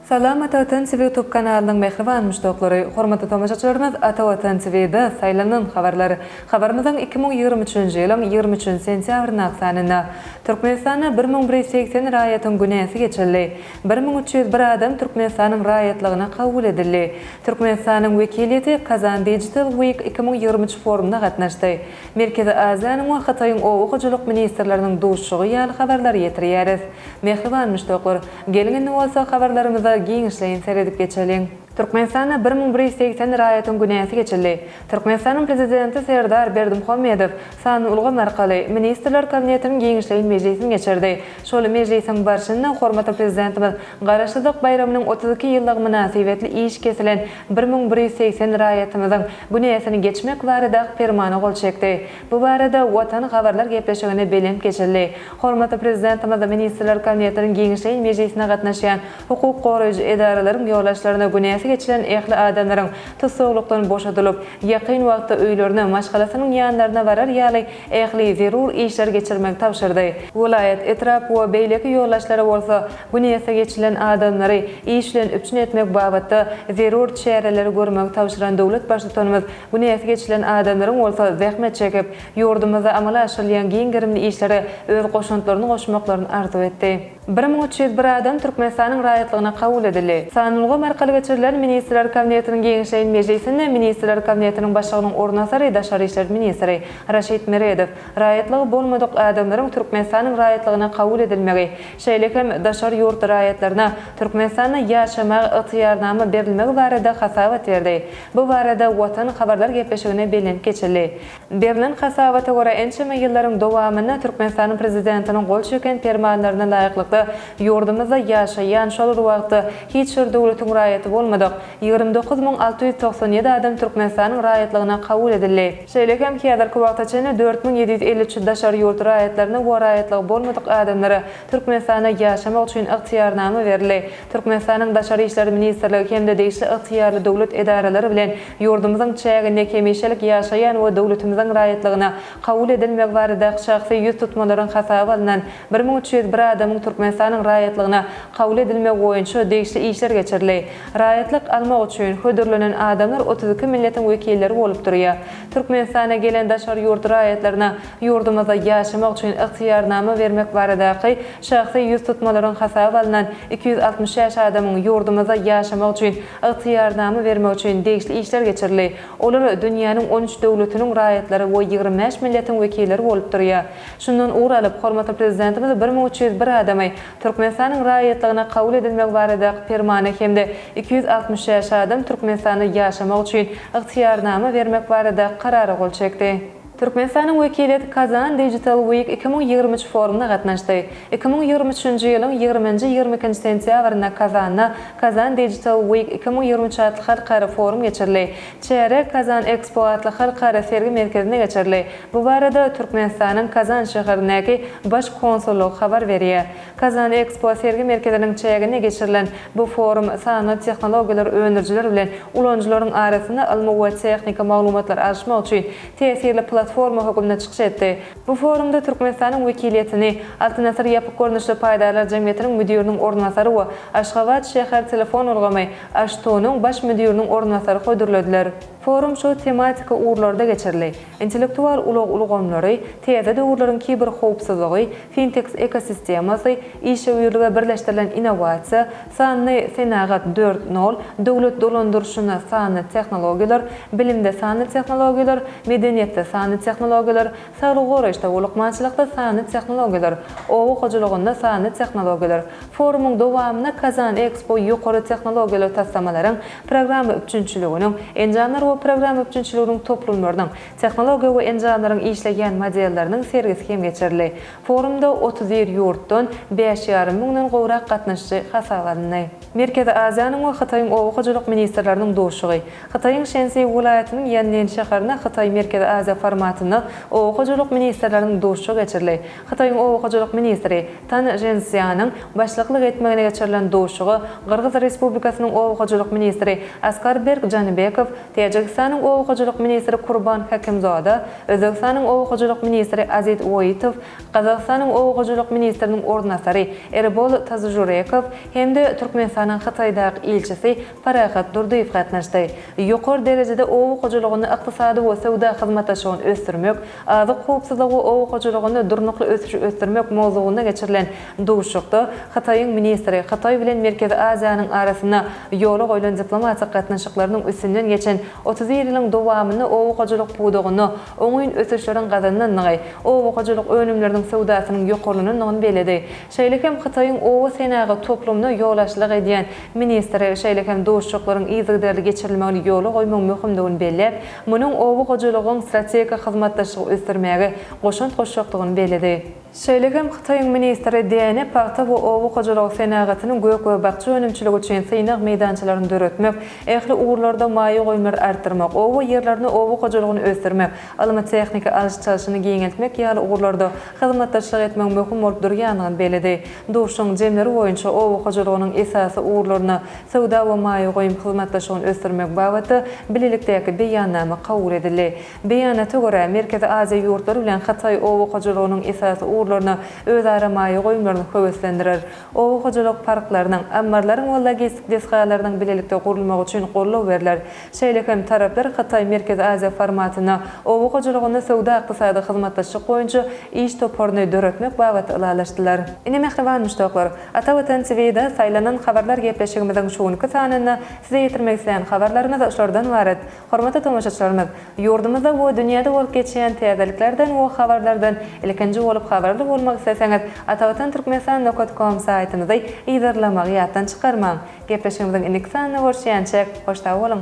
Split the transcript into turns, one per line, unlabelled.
Salam Ata Watan TV Youtube kanalynyň mähriban muşdaklary, hormatly tomaşaçylarymyz Ata Watan TV da saýlanan habarlar. Habarymyzyň iki müň ýigrimi üçünji ýylyň ýigrimi üçünji sentýabrynyň sanynda Türkmenistanda bir müň bir ýüz segsen raýatyň günäsi geçildi. Bir müň üç ýüz bir adam Türkmenistanyň raýatlygyna kabul edildi. Türkmenistanyň wekiliýeti Kazan Digital Week iki müň ýigrimi üç forumyna gatnaşdy. Merkezi Aziýanyň we Hytaýyň oba hojalyk ministrleriniň duşuşygy ýaly habarlary ýetirýäris. Mähriban muşdaklar, geliň indi bolsa habarlarymyza giňişleýin seredip geçeliň. Türkmenistanda bir müň bir ýüz segsen raýatyň günäsi geçildi. Türkmenistanyň Prezidenti Serdar Berdimuhamedow sanly ulgam arkaly Ministrler Kabinetiniň giňişleýin mejlisini geçirdi. Şol mejlisiň barşynda hormatly Prezidentimiz Garaşsyzlyk baýramynyň otuz iki ýyllygy mynasybetli iş kesilen bir müň bir ýüz segsen raýatymyzyň günäsini geçmek baradaky Permana gol çekdi. Bu barada Watan habarlar gepleşiginde belent geçildi. Hormatly Prezidentimiz Ministrler Kabinetiniň giňişleýin mejlisine gatnaşýan hukuk goraýjy edaralaryň ýolbaşçylaryna günäsi geçilen ähli adamlaryň tussaglykdan boşadylyp, ýakyn wagtda öýlerine, maşgalasynyň ýanlaryna barar ýaly ähli zerur işleri geçirmegi tabşyrdy. Welaýat, etrap we beýleki ýolbaşçylary bolsa bu niýete geçilen adamlary iş bilen üpjün etmek babatda zerur çäreleri görmegi tabşyran döwlet Baştutanymyz bu niýete geçilen adamlaryň bolsa zähmet çekip, ýurdumyzda amala aşyrylýan giň gerimli işlere öz goşantlaryny goşmaklaryny arzuw etdi. Bir müň üç ýüz bir adam Türkmenistanyň raýatlygyna kabul edildi. Sanulgam arkaly geçirilen Ministrler Kabinetiniň geňeşleýin mejlisinde Ministrler Kabinetiniň Başlygynyň orunbasary, daşary işler ministri Raşid Meredow raýatlygy bolmadyk adamlaryň Türkmenistanyň raýatlygyna kabul edilmegi, şeýle hem daşary ýurt raýatlaryna Türkmenistanda ýaşamaga ygtyýarnama berilmegi barada hasabat berdi. Bu barada Watan habarlar gepleşigine bellenip geçildi. Berlen hasabata görä, ençeme ýyllaryň dowamynda Türkmenistanyň Prezidentiniň gol çeken permanlaryna laýyklykda, ýurdumyzda ýaşaýan, şol bir wagtda hiç bir döwletiň raýaty bolmadyk ýigrimi dokuz müň alty ýüz togsan ýedi adam Türkmenistanyň raýatlygyna kabul edildi. Şeýle hem häzirki wagta çenli dört müň ýedi ýüz elli üç daşary ýurt raýatlaryna we raýatlygy bolmadyk adamlara Türkmenistanda ýaşamak üçin ygtyýarnama berildi. Türkmenistanyň Daşary işler ministrligi hem-de degişli ygtyýarly döwlet edaralary bilen Ýurdumyzyň çäginde hemişelik ýaşaýan we döwletimiziň raýatlygyna kabul edilmegi baradaky şahsy ýüz tutmalaryň hasaba alnan bir müň üç ýüz bir adamyň Türkmenistanyň raýatlygyna kabul edilmegi boýunça degişli işler geçirildi. Raýatlyk almak üçin hödürlenen adamlar otuz iki milletiň wekilleri bolup durýar. Türkmenistana gelen daşary ýurt raýatlaryna ýurdumyzda ýaşamak üçin ygtyýarnama bermek baradaky şahsy ýüz tutmalaryň hasaba alnan iki ýüz altmyş bäş adamyň ýurdumyzda ýaşamak üçin Ygtyýarnama bermek üçin degişli işler geçirildi. Olar dünýäniň on üç döwletiniň raýatlary we ýigrimi bäş milletiň wekilleri bolup durýar. Şundan ugur alyp, hormatly Prezidentimiz bir müň üç ýüz bir adamy Türkmenistanyň raýatlygyna kabul edilmegi baradaky Permana hem-de iki ýüz altmyş şäş adam Türkmenistanda ýaşamak üçin ygtyýarnama bermek baradaky Karara gol çekdi. Türkmenistanyň wekiliýeti Kazan Digital Week iki müň ýigrimi üç forumyna gatnaşdy. Iki müň ýigrimi üçünji ýylyň ýigrimi nji, ýigrimi ikinji sentýabrynda Kazanda Kazan Digital Week iki müň ýigrimi üç atly halkara forum geçirildi. Çäre Kazan Expo atly halkara sergi merkezinde geçirildi. Bu barada Türkmenistanyň Kazan şäherindäki Baş konsullygy habar berýär. Kazan Ekspo sergi merkeziniň çäginde geçirilen bu forum sanly tehnologiýalar öndürijiler bilen ulanyjylaryň arasynda ylmy we tehniki maglumatlary alyşmak üçin täsirli platforma hökümde çykyş etdi. Bu forumda Türkmenistanyň wekiliýetini Altyn Asyr ýapyk görnüşli paýdarlar jemgyýetiniň müdiriniň orunbasary we Aşgabat şäher telefon ulgamy, AŞTU, nyň baş müdiriniň orunbasary hödürlediler. Forum şu tematiki ugurlarda geçirildi. Intellektual ulag ulgamlary, täze döwürleriň kiberhowpsuzlygy, Fintex ekosistemasy, işewürlige birleşdirilen innowasiýa, Sanly senagat dört nol, döwlet dolandyryşynda sanly tehnologiýalar, bilimde sanly tehnologiýalar, medeniýetde sanly tehnologiýalar, saglygy goraýyşda, lukmançylykda sanly tehnologiýalar, oba hojalygynda sanly tehnologiýalar. Forumyň dowamynda Kazan-Ekspo ýokary tehnologiýaly taslamalaryň programma üpjünçiliginiň, enjamlar we programma üpjünçiliginiň toplumlarynyň, tehnologiýa we enjamlaryň işleýän modelleriniň sergisi hem geçirildi. Forumda otuz bir ýurtdan bäş ýarym müňden gowrak gatnaşyjy hasaba alyndy. Merkezi Aziýanyň we Hytaýyň oba hojalyk ministrleriniň duşuşygy, Hytaýyň Şensi welaýatynyň Ýanlin şäherinde Hytaý-Merkezi Aziýa formatynda oba hojalyk ministrleriniň duşuşygy geçirildi. Hytaýyň oba hojalyk ministri Tan Žensýanyň başlyklyk etmegine geçirilen duşuşyga Gyrgyz Respublikasynyň oba hojalyk ministri Askarberk Janybekow, Täjigistanyň oba hojalyk ministri Kurban Hakimzoda, Özbegistanyň oba hojalyk ministri Azit Woitow, Gazagystanyň oba hojalyk ministriniň orunbasary Erbol Tazyjurekow hem-de Türkmenistanyň Hytaýdaky ilçisi Parahat Durdyýew gatnaşdy. Ýokary derejede oba hojalygyny, ykdysady we söwda hyzmatdaşlygyny ösdürmek, Azyk howpsuzlygy, oba hojalygynda durnukly ösüşi ösdürmek mowzugynda geçirilen duşuşykda Hytaýyň ministri Hytaý bilen Merkezi Aziýanyň arasynda ýola goýlan diplomatik gatnaşyklarynyň üstünden geçen otuz bir ýylyň dowamynda oba hojalyk pudagynda oňyn ösüşleriň gazanylandygy, oba hojalyk önümleriniň söwdasynyň ýokarlanandygyny belledi. şeýle hem Hytaýyň oba senagat toplumyna ýolbaşçylyk edýän ministri, şeýle hem duşuşyklaryň yzygiderli geçirilmegini ýola goýmagyň möhümdigini belläp, munuň oba hojalygyň strategik hyzmatdaşlygy ösdürmäge goşant goşjakdygyny belledi. Şeýle hem Hytaýyň ministri däne, pagta we oba hojalygy senagatynyň gök we bakja önümçiligi üçin synag meýdançalaryny döretmek, ähli ugurlarda maýa goýumlary artdyrmak, oba ýerlerinde oba hojalygyny ösdürmek, ylmy-tehniki alyş-çalşyny giňeltmek ýaly ugurlarda hyzmatdaşlyk etmegiň möhüm bolup durýandygyny belledi. Duşuşygyň jemleri boýunça oba hojalygynyň esasy ugurlaryna söwda we maýa goýum hyzmatdaşlygyny ösdürmek babatda Bilelikdäki Beýannama kabul edildi. Beýanata görä, Merkezi Aziýa ýurtlary bilen Hytaý oba hojalygynyň esasy ugurlaryna özara maýa goýumlaryny höweslendirer, oba hojalyk parklarynyň, ammarlaryň we logistik desgalarynyň bilelikde gurulmagy üçin goldaw berler, Şeýle hem taraplar Hytaý-Merkezi Aziýa formatyna oba hojalygyny söwda-ykdysady hyzmatdaşlyk boýunça iş toparyny döretmek babatda ylalaşdylar. Ine mähriban muşdaklar, Ata Watan TV-de saýlanan habarlar gepleşigimiziň şu günki sanynda size ýetirmek isleýän habarlarymyz şulardan ybarat. Hormatly tomaşaçylarymyz, ýurdumyzda we dünýäde bolup geçýän täzeliklerden we habarlardan ilkinji bolup habarly bolmak isleseňiz, atavatan-turkmenistan nokta kom saýtymyzy yzarlamagy ýatdan çykarmaň! Gepleşigimiziň indiki sanynda görüşýänçäk, hoş sag boluň!